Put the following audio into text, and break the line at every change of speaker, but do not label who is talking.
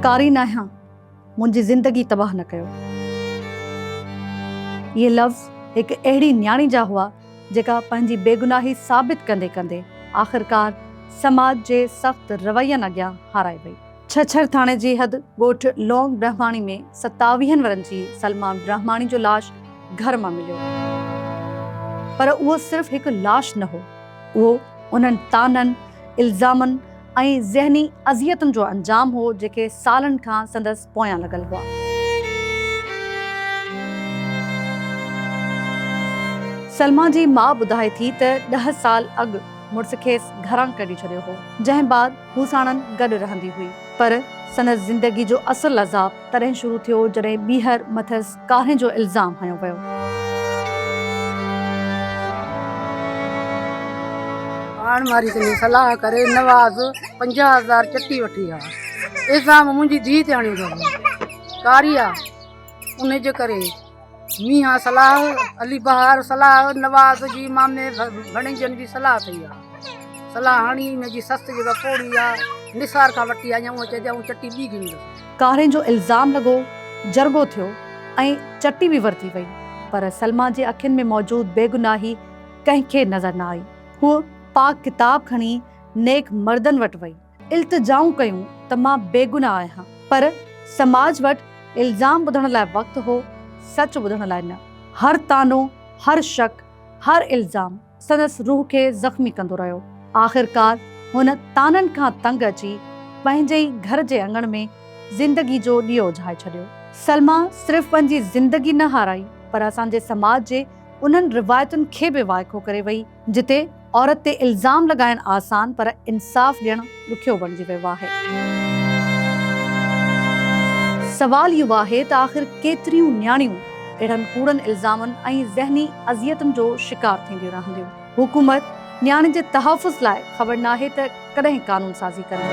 ڪاري ناهيان منهنجي زندگي تباهه نه ڪيو. اهي لفظ هڪ اهڙي نياڻي جا هئا جيڪا پنهنجي بيگناهي ثابت ڪندي ڪندي آخرڪار سماج جي سخت روين اڳيان هارائي وئي. ڇڇر ٿاڻي جي حد ڳوٺ لونگ برهماڻي ۾ ستاويهن ورهن جي سلمان برهماڻي جو لاش گهر مان مليو پر اهو صرف هڪ لاش نه هو اهو انهن طعنن، الزامن ۽ ذهني اذيتن جو انجام هو جيڪي سالن کان سندس پويان لڳل هئا. سلمان جي ماء ٻڌائي ٿي ته ڏهه سال اڳ مڙس کيس گهران ڪڍي ڇڏيو هو جنهن بعد هو ساڻن گڏ رهندي هئي. پر سندس زندگي جو اصل عذاب تڏهن شروع ٿيو جڏهن ٻيهر مٿس ڪارهين جو الزام هنيو ويو.
پاڻ ماري سندي صلاح ڪري نواز پنجاهه هزار چٽي وٺي آيو. الزام منهنجي ڌيء تي هڻيو ويو هو. ڪاريه ان جي ڪري ميان صلاح علي بهار صلاح نواز جي مامي ڀڻيجن جي صلاح ٿي آ صلاح هاڻي ان جي سس جي وڪوڙي آ نثار کان وٽي آيا هو چي جاون چٽي بي گين ڪارين جو الزام
لڳو جرڳو ٿيو ۽ چٽي به ورتي وئي پر سلميٰ جي اکين ۾ موجود بيگناهي ڪنهن کي نظر نه آئي هوء پاڪ ڪتاب کڻي نيڪ مردن وٽ وئي. التجائون ڪيون ته مان بيگناهه آهيان، پر سماج وٽ الزام ٻڌڻ لاء وقت هو، سچ ٻڌڻ لاء نه. هر طعنو، هر شڪ، هر الزام سندس روح کي زخمي ڪندو رهيو. آخرڪار هن طعنن کان تنگ اچي پنهنجي ئي گهر جي اڱڻ ۾ زندگي جو ڏيئو اجهائي ڇڏيو. سلميٰ صرف پنهنجي زندگي نه هارائي، پر اسان جي سماج جي انهن روايتن کي به وائکو ڪري وئي، جتي عورت تي الزام لڳائڻ آسان پر انصاف ڏيڻ ڏکيو بڻجي ويو آهي. سوال اهو آهي ته آخر ڪيتريون نياڻيون اهڙن ڪوڙن الزامن ۽ ذهني اذيتن جو شڪار ٿينديون رهنديون. حڪومت نياڻين جي تحفظ لاء خبر ناهي ته ڪڏهن قانون سازي ڪندي.